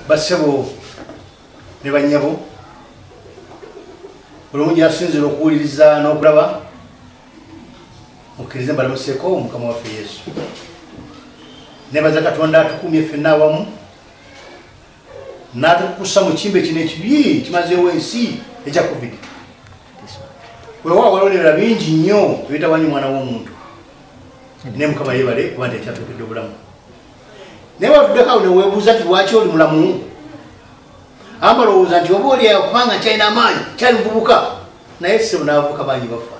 basebo ne banyabo buli omu gyasinzira okuwuliriza n'okulaba mukkirize mbalamuseeko omukama waffe yesu nebaza katonda atukumye ffenna awamu n'atukukusa mu kimbe kino ekibi kimazeewo ensi ekya covid wewa walolera bingi nnyo ebitawanyi omwana w'omuntu naye mukama yebale kuba nti ekyatuukidde obulamu naye watuddeko awo newebuuza nti lwaki oli mulamu amba olowooza nti oba olyayo kubanga kyalina amaanyi kyali muvubuka naye sebo n'abavubuka bangi bafa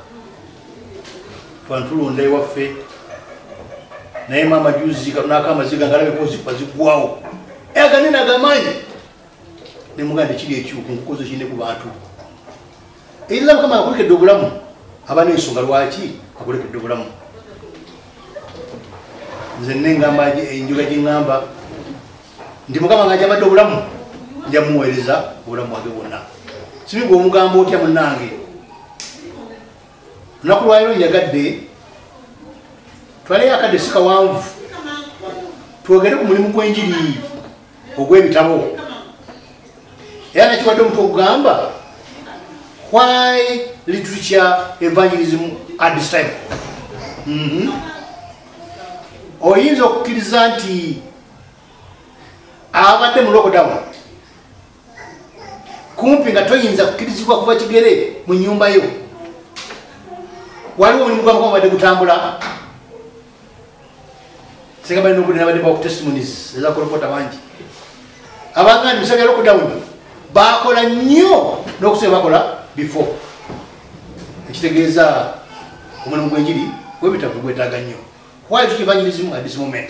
twantulonda ewaffe naye maama juzi katunako amaziga ngalabeko zifa ziggwawo eyaganene agamaanyi nemugaa nekiri ekyuku nkukozo kine ku bantu Illa kama akulike dobulamu abana ensonga lwaki akulike dobulamu nze nengamba enjuga gingamba ndi mukama nga jabadde obulamu nja muweereza obulamu bwange bwonna sibigwe omugamba otya munange lunaku lwaliro njagadde twaleyo akadde sikawanvu twogere ku mulimu gw'enjiri ogw'ebitabo era nakiwadde omutwe ogugamba why literature evangelism at this time mhm. oyinza okukkiriza nti abadde mu lockdown kumpi nga toyinza kukkirizibwa kuba kigere mu nyumba yo waliwo omulimu gwamukama badde gutambula singa balina obudde nabadde bawa testimonies ezakolokota bangi abangani bisaba bya lockdown bakola nnyo n'okusobe bakola before ekitegeeza omulimu gwenjiri webitavu gwetaaga nnyo why tukivanyirizmu at this moment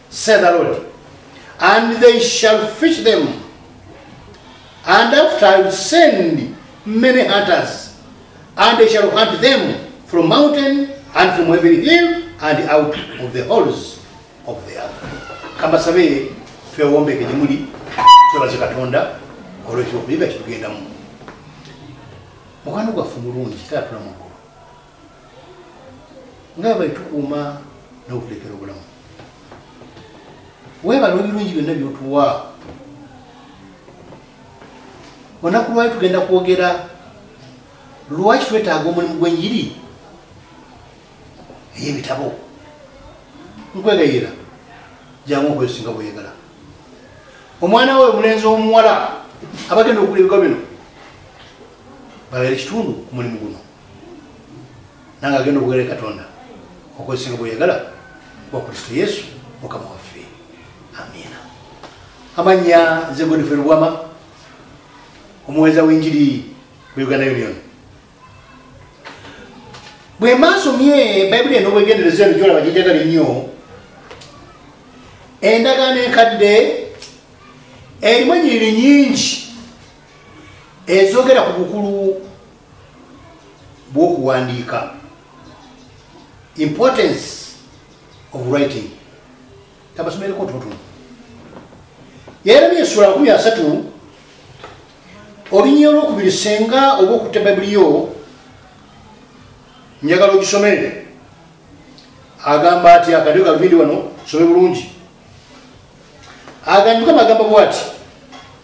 Say the Lord, and they shall fish them, and after I will send many hunters, and they shall hunt them from mountain and from every hill and out of the holes of the earth. Kamba sabe twewombe ke jimuli twebaze katonda olwe kyo kuyiga kitugenda mu. Mukano gwa fumulungi tatu na mukuru. ngaabali tukuuma n'okuteekera obulamu weebala ebirungi byonna byotuwa onaku lwali tugenda kwogera lwaki twetaaga omulimu gw'enjiri ey'ebitabo nkwegayira jangu okwesinga bweyagala omwana we omulenzi omuwala abagenda okugula ebigwa bino babeere kitundu ku mulimu guno nange agenda obugere katonda okwesinga bweyagala wa kristo yesu mukama waffe amiina amanya nze godife lubwama omuweza wenjiri mu uganda union bwe maasomye bayibuli eno bwegenderezo eno gyolaba gyejagala ennyo endagaano enkadde erimu enyiriri nyingi ezogera ku bukulu bw'okuwandiika importance of writing tabasomereko totono yeremye esula makumi asatu olunyia olwokubiri senga oba okutta bayibuli yo njagala ogisomere agamba ati akadyo kalubindi wano some bulungi agandi mukama agamba bwati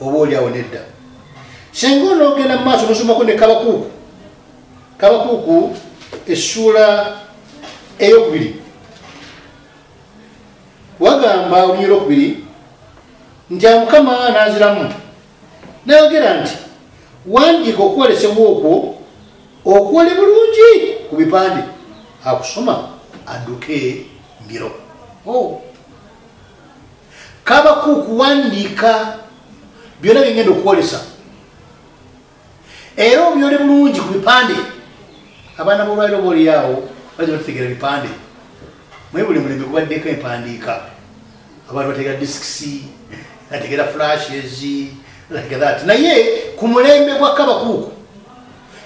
oba oli awo nedda singa onoogenda mu maaso nosomako ne kabakuuku kabakuuku essuula eyokubiri wagamba olunya olwokubiri nti amukama naziramu nayogera nti wandiika okwolesebwa okwo okwole bulungi ku bipande akusoma aduke mbiro oh. kabakuuku wandiika byona byengenda okwolesa era obyole bulungi ku bipande abaana bolwaliro booliyaawo baza batutegera bipande mwe buli mulembe gubaddeko empandiika abantu bategera disks bategera flashes like that naye ku mulembe gwa kabakuuku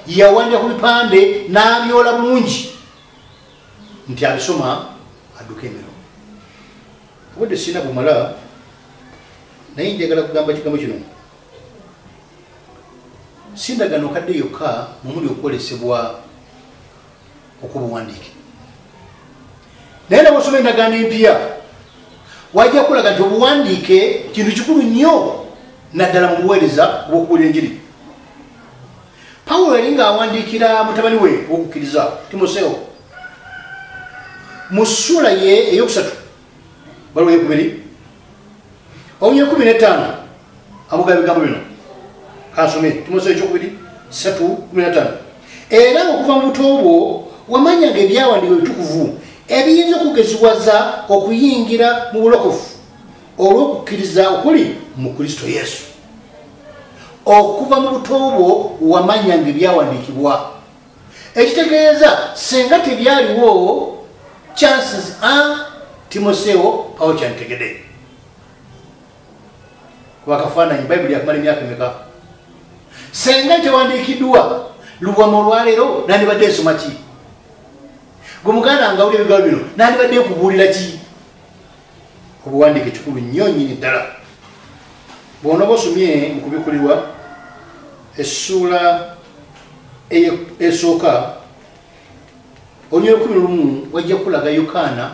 yawandika ku bipande n'abyola bulungi nti abisoma adduka emiro obudde sirina bumala naye njagala kugamba kigambo kino sindagano kadde yokka mumuli okwolesebwa okubuwandiike naye nabwosoma endagaano empya wajja kulaga nti obuwandiike kintu kikulu nnyo naddala mu buweereza obwokubuulira enjiri pawulo yali ng'awandiikira mutabani we owokukkiriza timoseewo mu sula ye eyokusatu waliwo yekubiri omu yekumi netaano abuga bigambo bino kansome tumosa ekyokubiri satu kumi nataano era okuva mu buto bwo wamanyanga ebyawandiika ebitukuvu ebiyinza okugeziwaza okuyingira mu bulokofu olw'okukkiriza okuli mu kristo yesu okuva mu buto bwo wamanyanga ebyawandiikibwa ekitegeeza singa tebyaliwo chances a timosewo awo kyantegede kubakafaananyi bayibuli yakumala emyaka emeka singa tewandiikiddwa lubwama olwaleero nandibadde nsoma ki gwe muganda ngawuli ebigawo bino nandibadde nkubuulira ki obuwandiike kikulu nnyo nyini ddala bwonoba osomye mu kubikulirwa essuula esooka olunyolukumi lumu wajja kukulaga yokaana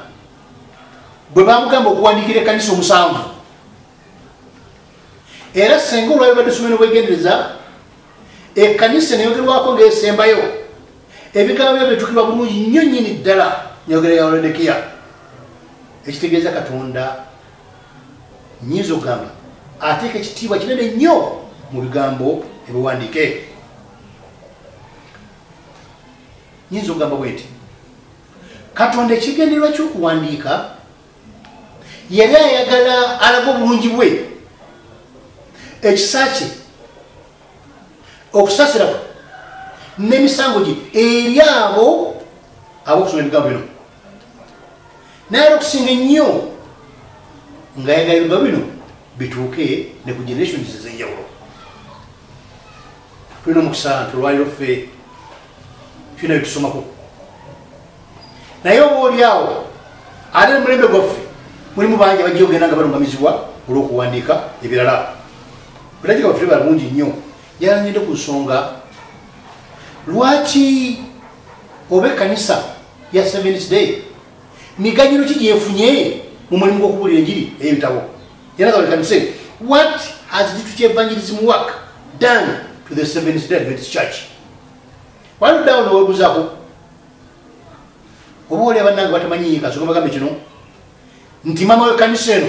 bwe bamugamba okuwandiikira ekkanisa omusanvu era senga olwabibadde somero bwegendereza ekkanisa neyogerwako ngaesembayo ebigambo byo bitukirwa bulungi nnyo nnyini ddala nyogera ya olodekiya ekitegeeza katonda nyinza okugamba ateeka ekitiibwa kinene nnyo mu bigambo ebiwandiike nyinza okugamba bwe nti katonda ekigendererwa kyokuwandiika yali ayagala alaga obulungi bwe ekisa kye okusasira kwe n'emisango gye eri abo ab'okusoma ebigambo bino naye era okusinga ennyo nga yagala ebigambo bino bituuke ne ku generations ez'enjawulo tulina omukisa nti olwaliro ffe tulina byetusomako naye oba oli awo ate omulembe gwaffe mulimu bangi abajja ogenda nga balungamizibwa olw'okuwandiika ebirala Bulagira waffe balungi nnyo yalangidde ku nsonga lwaki oba ekkanisa ya seventh day miganyiro ki gyefunye mu mulimu gw'okubuulira enjiri ey'ebitabo yalaga buli kanise what has ditu kyevangirism work done to the seventh day adventist church waluddawo newebuzaako oba oli abannange batamanyiika soga bagambe kino nti mama w'ekkanisa eno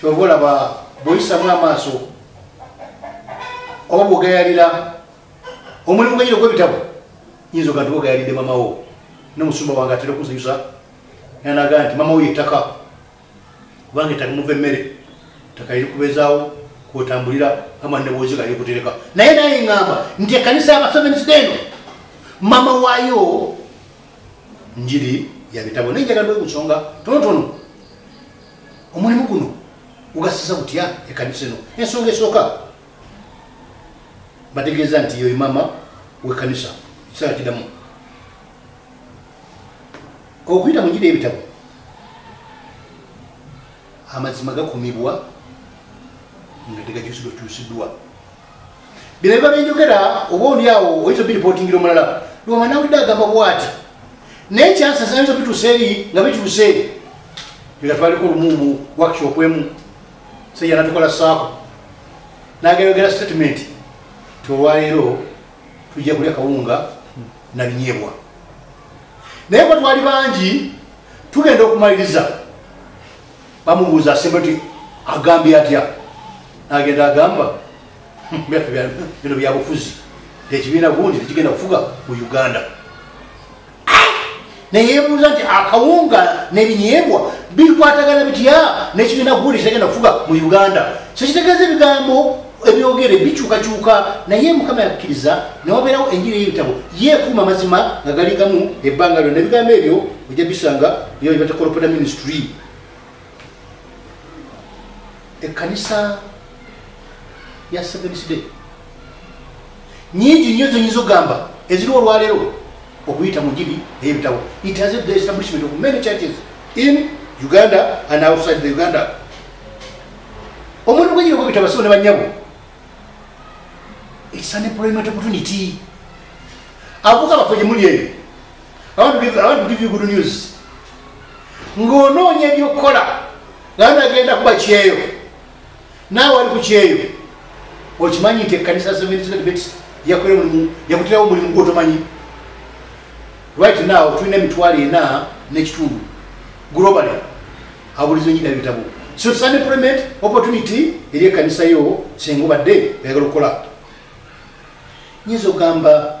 kyova olaba bwoyisamu amaaso oba bwogayalira omulimu gwenyina ogwebitabo yinza oga nti bwogayalidde mamawo nomusumba wange atera okunziyusa nanaga nti mamawo yettaka kubanga ettaka muva emmere ttaka eri kubezaawo kwotambulira ama nebwozi gali kutereka naye naye ngamba nti ekanisa yabasevensideno mama wayo njiri yabitabo naye njagala bwekusonga tonotono omulimu guno gugasiza gutya ekanisa eno ensonga esooka bategeeza nti yoyo maama wekanisa ekiseera kidamu okuyita mu njira ebitabo amazima gakumibwa nga tegakyusidwa kyusidwa bino biba byenjogera oba oli awo oyinza obiripotingira omulala lwama nawulidde agamba bwati naye kyansasa yinza bituusa eri nga bituuse nga twaliko olumumu workshop emu seya natukola saako nagayogera statement ti olwaleero tujja kulya kawunga nabinyebwa naye bwe twali bangi tugenda okumaliriza bamubuuza asembe ti agambye atya agenda agamba byaffe bino byabufuzi ekibiina gundi tekigenda kufuga mu uganda neyebuuza nti akawunga nebinyebwa bikwatagana bitya nekibiina gundi kitegenda kufuga mu uganda kyekitegeeza ebigambo ebyogere bikyukakyuka naye mukama yakkiriza newabeerawo enjiri y'ebitabo yekuuma amazima nga galigamu ebbanga lyona ebigambo ebyo ojja bisanga byobibatekolopota ministry ekkanisa ya seventh day nyingi nnyo zenyinza okugamba eziriwo olwaleero okuyita mu njiri eyebitabo it has the establishment of many churches in uganda and outside the uganda omuntu gwenyini okubita basibo ne banyabo it's an employment opportunity avuka baffe gye muli eyo I want to give, I want to give you good news. Ng'onoonya eby'okukola nga nagenda kuba kyeyo naawe wali ku kyeyo okimanyi nti ekkanisa seventsbets yakola omulimu yakutirawo omulimu gwotomanyi right now tulina emitwalo ena n'ekitundu globally abulizo nyina ebitabo so it's an employment opportunity eri ekkanisa yo senga obadde oyagala okukola nyinza okugamba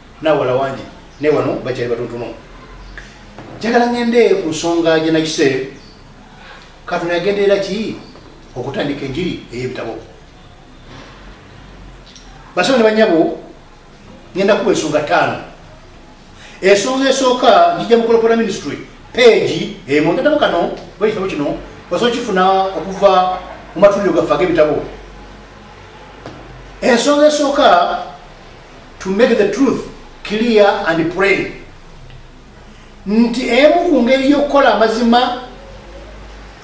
nawala wangi naye wano bakyali batotono njagala ngende ku nsonga gyenakise katonda yagenderera ki okutandika enjiri ey'ebitabo basawo ne banyabo ngenda kuba ensonga ttaano ensonga esooka njija mukolopora ministry peegi emu eh, ngatabo kano oba ekitabo kino osobola okifuna okuva mu matuliro gaffe ag'ebitabo ensonga esooka to make the truth clear and plain nti emu ku ngeri y'okukola amazima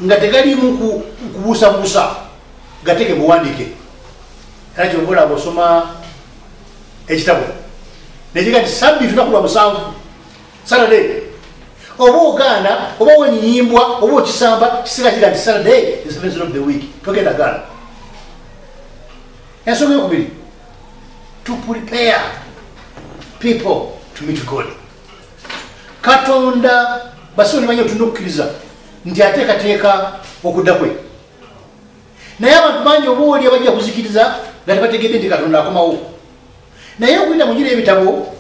nga tegalimu kubuusabuusa gateke buwandike era kyobola bosoma ekitabo nekiga nti sabbiiti lunaku lwa musanvu saturday oba ogaana oba wenyiyimbwa oba okisamba kisinga kiga nti saturday the seventh of the week togenda gaana ensonga yokubiri to prepare people to meet god katonda basibe nimanyi otulina okukkiriza nti ateekateeka okudda kwe naye abantu bangi oba oli abajja kuzikiriza nga tebategedde nti katonda akomawo naye okuyita mu gira ebitabo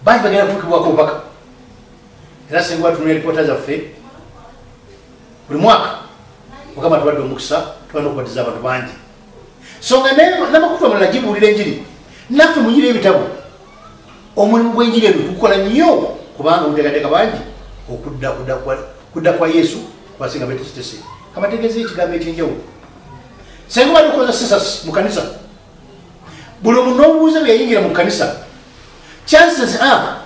bangi bagenda kutukibwako obubaka era singa batunula eripoota zaffe buli mwaka mukama tuwadde omukisa tuba nokubatiza abantu bangi songa namakutu amalala gibuulira enjiri naffe munyira ebitabo omulimu gw'enjiri eno tukukola nnyo kubanga muteekateeka bangi okudda kudda kwa yesu kwasinga betekitese kabategeeza ekigambo ekyenjawulo senga bali okoza sisas mu kanisa buli omu n'obuuza bwe yayingira mu kanisa chances a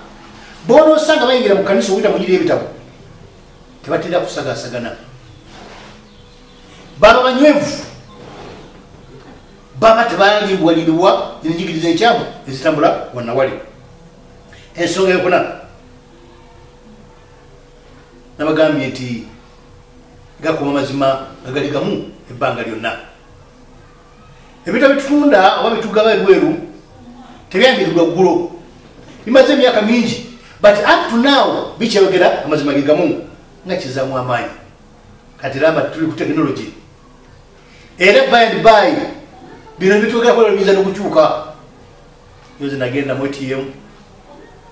boonosanga bayingira mu kanisa okuyita munyira ebitabo tebatera kusagasagana baba banywevu baba tebalimbwaliribwa enjigiriza enkyamu ezitambula wanawali ensonga yokuna nabagambye nti gakuba mazima agali gamu ebbanga lyonna ebita bitunda oba bitugaba ebweru tebyandirirwa ggulo bimaze emyaka mingi but up to now bikyayogera amazima ge gamu nga kizamu amaanyi kati laba tuli ku tekinologi era bad by bino bitugekolabiyinza nokukyuka yoze nagenda mu atm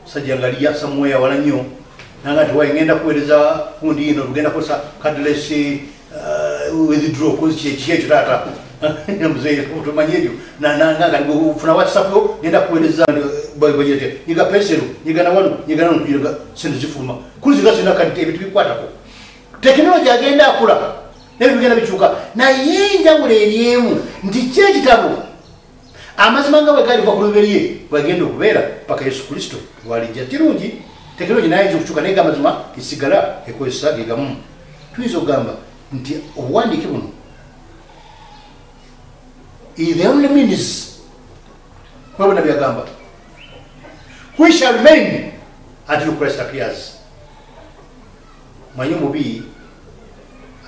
sajja nga liya samuweya wala nnyo nanga tiwayi ngenda kuwereza kundi yino tugenda kukosa kadles uh, withdraw kozi kyeki ekyo taata muzeeotomanya ebyo nanangaufuna whatsapp yo ngenda kuwereza nyiga pensero nyiga nawano nyiga nano sente zifuluma kuziga zina kati ebintu bikwatako tekinologi agenda akula naye bigenda bikyuka naye enjawulo eryemu nti ki ekitabo amazima nga bwegalibwa ku luberye bwegenda okubeera paka yesu kristo lwalijja kirungi tekinologi nayinza okukyuka naye gamazima esigala ekozesa gegamu tuyinza okugamba nti obuwandiike buno the only means kwebona byagamba we shall remain until christ appears manyi omubi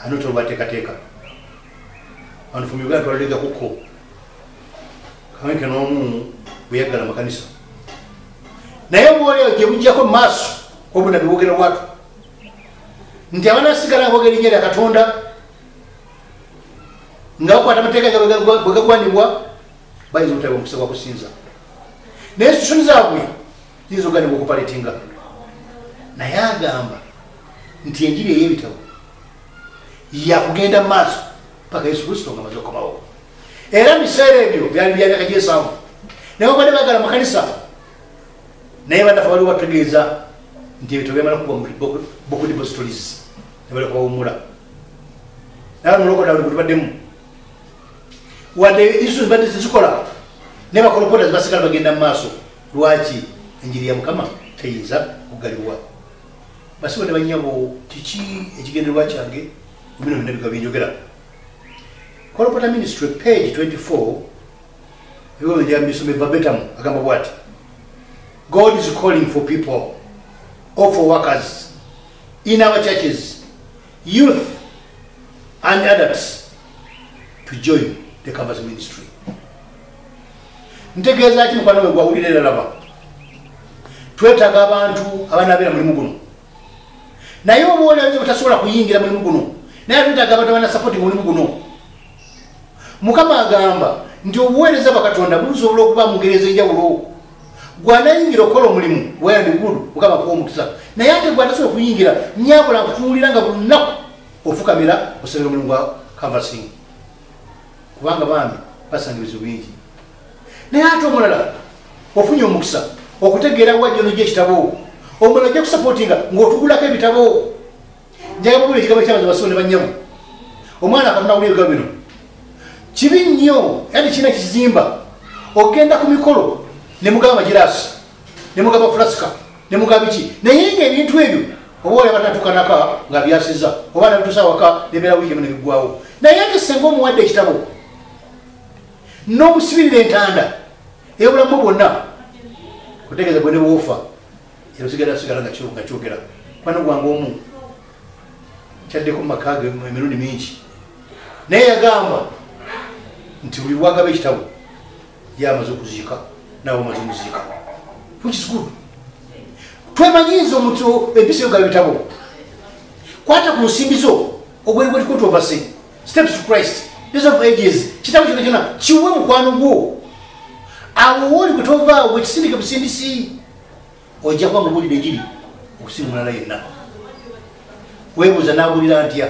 ani tobateekateeka bantu from uganda twalalega kuko kawenke n'omu bweyaggala amakanisa naye obwoleero gye bujjako mu maaso obuna biwogera watu nti abanasigala nga bogera erinnya lya katonda nga bakwata amateeka ga bwe gagwanibwa bayinza obutaba omukisa gwa kusinza naye sisoni zaabwe yinza ogani bwokupaletinga naye agamba nti enjiri ey'ebitabo yakugenda mu maaso paka yesu kristo nga maze okomawo era mu biseera ebyo byali byamyaka gyesanvu naye obadde bagala mu kanisa naye banafe waliwo batutegeeza nti ebitabo byamala kuba bokudibositolis nebali kubawumula naye mulokoda buli gutubaddemu wadde isu zibadde tezikola naye bakolopota zibasigala bagenda mu maaso lwaki enjiri ya mukama teyinza kugalibwa basiba ne banyabo kiki ekigendererwa kyange mubino byonna biga byenjogera kolopota ministry page 24 ebyobyenjamisomevabetam agamba bwati god is calling for people or for workers in our churches youth and adults to join the covers ministry ntegeeza ki mukwano we gwawulira era laba twetaaga abantu abanabeera mulimu guno naye oba olayo batasobola kuyingira mulimu guno naye twetaaga abantu abanasapoti mulimu guno mukama agamba nti obuweereza bwakatonda busobola okuba mugereeza enjawulo gwanayingira okukola omulimu weyandigulu mukama kuwa omukisa naye ate gwatasobola okuyingira nyabula nkutunuulira nga buli lunaku ofukamira osabira omulimu gwa kavasinga kubanga bambi basanga ebizibu bingi naye ate omulala ofunye omukisa okutegeera wajjo nojja ekitabo omulala ojja kusapotinga ngaotugulako ebitabo njagabula ekigambo kyabaza basibo ne banyamu omwana akatunawula ebiga bino kibi nnyo yani kirina kizimba ogenda ku mikolo ne mugamba girasi ne mugamba fulaska ne mugabiki naye nga ebintu ebyo oba olaba natukanaka nga byasiza oba nabitusa waka nebeera wiiki emu nebigwawo naye ate senga omuwadde ekitabo n'omusibirira entanda eyobulamu bwonna kutegeeza bwe nebwofa era osigala sigala nga kyogera kubana gwange omu kyaddeko mu maka ge emirundi mingi naye yagamba nti buli wagaba ekitabo ye amaze okuziika naawe omaze omuziika which is good twemanyiiza omuntu empisa yo gabitabo kwata ku nsimbi zo ogweri gweri kwetwa obase steps to christ days of ages kitabo kyona kyona kiwe mukwano gwo awo wooli gwe tovaawo ekisindike busindisi ojja kuba mubulire giri okusinga omulala yenna webuuza nabulira ntya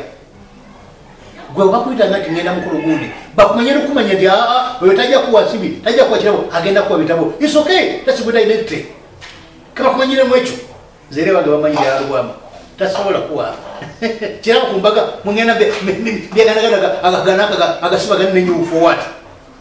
gwe obakuyita nga tingenda mukulu gundi bakumanye nokumanya nti aa ah, ah, oyo tajja kuwa nsibi tajja kuwa kirabo agenda kuwa bitabo is okay that's good identity kabakumanyiremu ekyo zere bange bamanyi yalubwamu tasobola kuwa kirabo kumbaga mungenda byeganaganaga agaganaka agasibagani nenyufu owati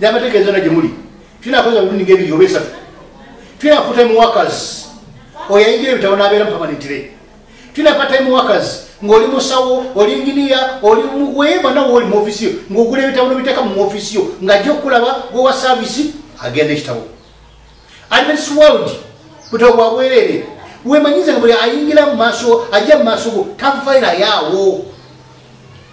Nyamateka ezona gye muli tulina akoza mirundi ng'ebiri oba esatu tulina full-time workers oyo ayingira ebitabo n'abeera mu pamanentire tulina part-time workers ng'oli musawo oli nginiya oli weyeva nawe oli mu ofisi yo ng'ogula ebitabo nobiteeka mu ofisi yo ng'ajja okukulaba gwewa saavisi agenda ekitabo advents world butabo bwa bwereere wemanyize nga buli ayingira mu maaso ajja mu maaso go tavairayaawo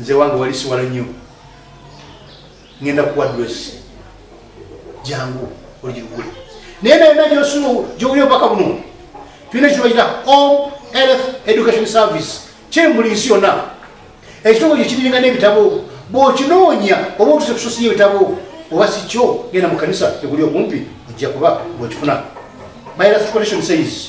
nze wange wali siwala nnyo ngenda kuwa dress jangu oligigule naye nayona gyosulu gyowuli obubaka buno tulina ekibayita home health education service kyembuli nsi yonna ekitongole kyo kiringa n'ebitabo bw'okinoonya oba otuse kusosiya ebitabo oba si kyo genda mu kanisa eguli okumpi ojja kuba bwekifuna my last collection says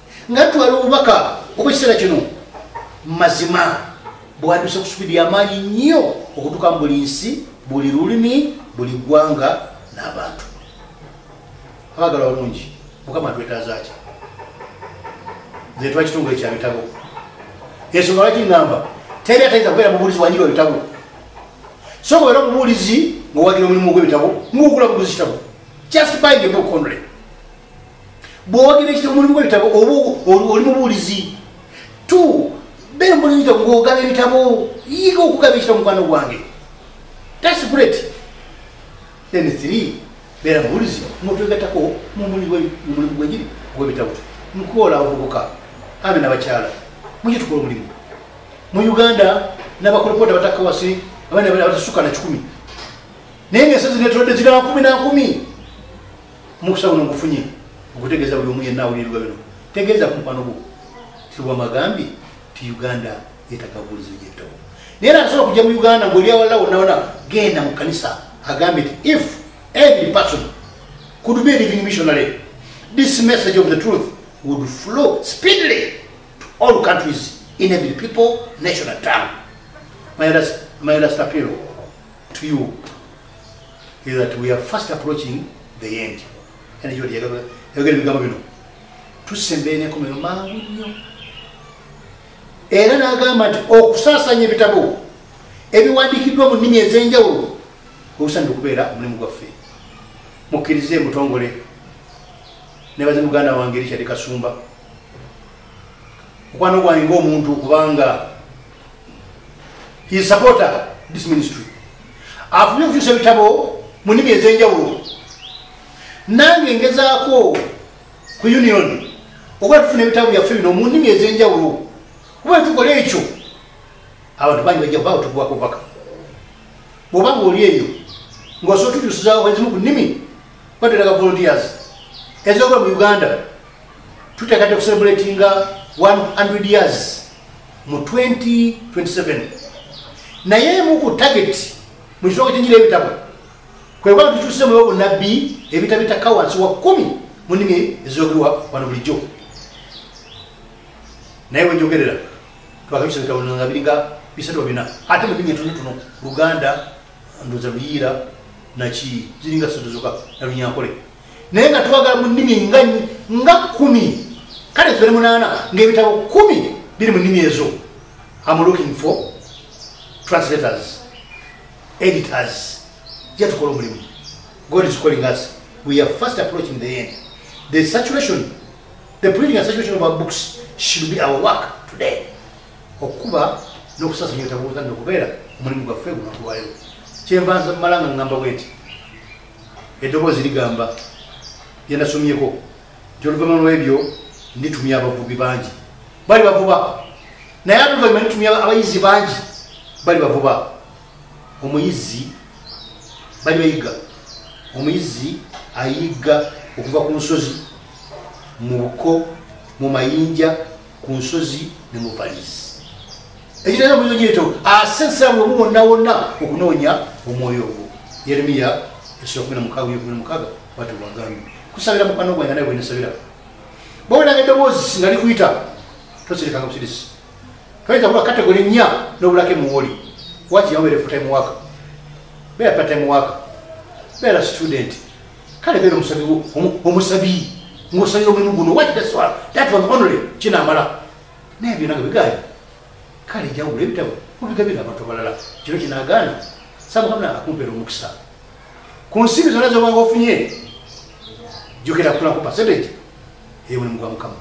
nga twala obubaka obwekiseera kino mazima bwanduse ku supidi yamaanyi nnyo okutuka mu buli nsi buli lulimi buli ggwanga n'abantu abagala balungi mukama twetazaki nze twa kitongole kya bitabo ensonga lwaki ngamba teri atayinza kubeera mubuulizi wanyiba bitabo soka obeera omubuulizi ngaowagira omulimu ogw'ebitabo ngaogula buguzi kitabo just buying a book only bwogera ekitabo mulimu gwebitabo oba oli mubuulizi t beera mubuulizi ngogaba ebitabo yiga okugaba ekitabo mukwano gwange thats great then three beera mubuulizi notwegatako mumulimu gwegiri gwebitabo mukuwola abavubuka ame nabakyala muki tukola omulimu mu uganda nabakolopota batakawasi abaana batasuka na kikumi naye ngaesazi netodde zira nkumi nankumi Mukusa guno ngufunye okutegeeza buli omu yenna awulirirwa bino tegeeza ku mukwano gwo tiwamagambye ti uganda yetakabuulizo gyettobo naye era asobola okujja mu uganda ngoli awalala wonawona genda mu kanisa agambye nti if every person could be living missionary this message of the truth would flow speedily to all countries in every people national town my last, my last appeal to you is that we are first approaching the end and you are going to get the government to send the name of mangu era nagamba nti okusasanya ebitabo ebiwandikiddwa mu nnimi ez'enjawulo obusanidde okubeera omulimu gwaffe mukkirize mutongole nebaze muganda wange richard kasumba okwano gwange ngaomuntu kubanga his supporter this ministry afubye okukyusa ebitabo mu nnimi ez'enjawulo nange ngezaako ku union oba tufuna ebitabo byaffe bino mu nnimi ez'enjawulo kuba etukola ekyo abantu bangi bajja kuba otugwako bubaka bwoba ngaoli eyo ngaosobola otujusizawo ezimu ku nnimi bateraga volunteers ezokola mu uganda tuteekate kucelebratinga 100 years mu 2027 naye emu ku target mu kitooka kyenjira ebitabo kwekuba tukyusemu ewa bunabbi ebitabo bitakka wansi wa kumi mu nnimi ezoogerwa wano bulijjo naye wenjogerera twakabisa ebitabo nga biringa bisatu bina ate mu nnimi entono tono luganda ndoza luyiira naki ziringa satu zoka nalunyankole naye nga twagala mu nnimi nga nga kumi kale tubere munaana ngaebitabo kumi biri mu nnimi ezo am looking for translators editors jatukola omulimu god is calling us we are first approaching the end the saturation the printing and saturation of our books should be our work today okukuba n'okusasanya ebitabo buzanna okubeera omulimu gwaffe gunakuwaleo kyenvanza mumalanga ngamba bwenti eddoboozi ligamba lyenasomyeko nti oluvanyuma lwebyo nditumya abavubi bangi bali bavuba naye aluvanyuma nditumya abayizi bangi bali bavuba omuyizi bali bayiga omuyizi ayiga okuva ku nsozi mu buko mu mayinja ku nsozi ne mu valisi ekitera munyonyi ekyo asesa ah, webu wonna wonna okunoonya omwoyo ogwo yeremiya esula kumi namukaaga yo kumi namukaaga bati wagambye kusabira mukwano gwange naye bwenasabira bawuliranga eddoboozi nga likuyita toserekanga busirisi toyinza kuba kategole nnya n'obulako emuwoli waki yawabeera efutime waka beera patime waka beera student kale beera omusabi omusabi ng'osabi omulimu guno wakitaswala that one only kinamala naye byona nga bigaali kale jawulo ebitabo obigabira abantu abalala kino kinagaana samukamna akumpeera omukisa ku nsimbi zona zobanga ofunye jukira kutulaku percentage eyobuli mugwa mukama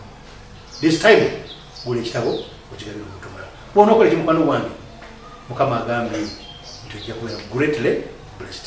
this time gula ekitabo okigabira omuntu omulala bwonaokola ekimukwano gwange mukama agambye nti ojja kubeera greatly blessed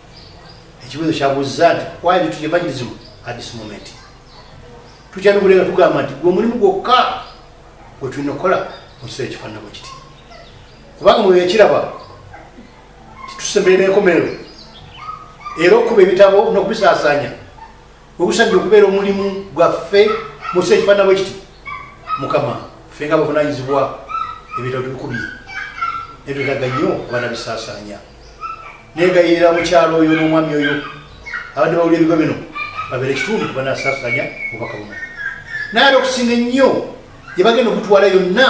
ekibuzo kyabuuzza nti why did you evangelism at this moment tukyalubule nga tugamba nti gwe omulimu gwokka gwe tulina okukola mu kiseera ekifaananako kiti kubanga mwe ekiraba titusemberera enkomerero era okukuba ebitabo n'okubisaasaanya obusajja okubeera omulimu gwaffe musi ekifaana bwe kiti mukama ffe nga bavunanyizibwa ebitabo tubikubye netwetaga nnyo abaana bisaasaanya negayirira mukyalo oyo n'omwami oyo abadde bawula ebigo bino babeere ekitundu kubanasaasanya obubaka buno naye ate okusinga ennyo gyebagenda okutwala yonna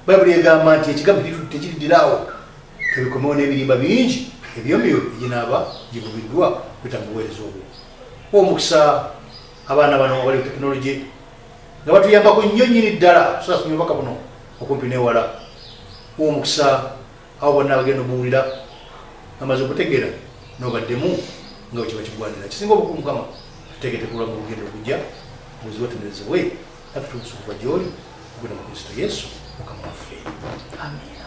bayibuli egamba nti ekigambo tekiridiraawo tebikomewo n'ebirimba bingi ebyomyo ginaaba givubiddwa kwita mu buweereza obwo omukisa abaana bano abali ku tekinologi nga batuyambako nnyo nnyini ddala sasomye obubaka buno okumpi newala omukisa abo bonna abagenda obuwulira amaze okutegeera nobaddemu nga wekiba kigwanira kisinga obukulu mukama tutegetekulwa mu lugendo okujja buzibu atenderezebwe naffe tubusukuba gyoli okugenda mu kristo yesu mukama waffe amina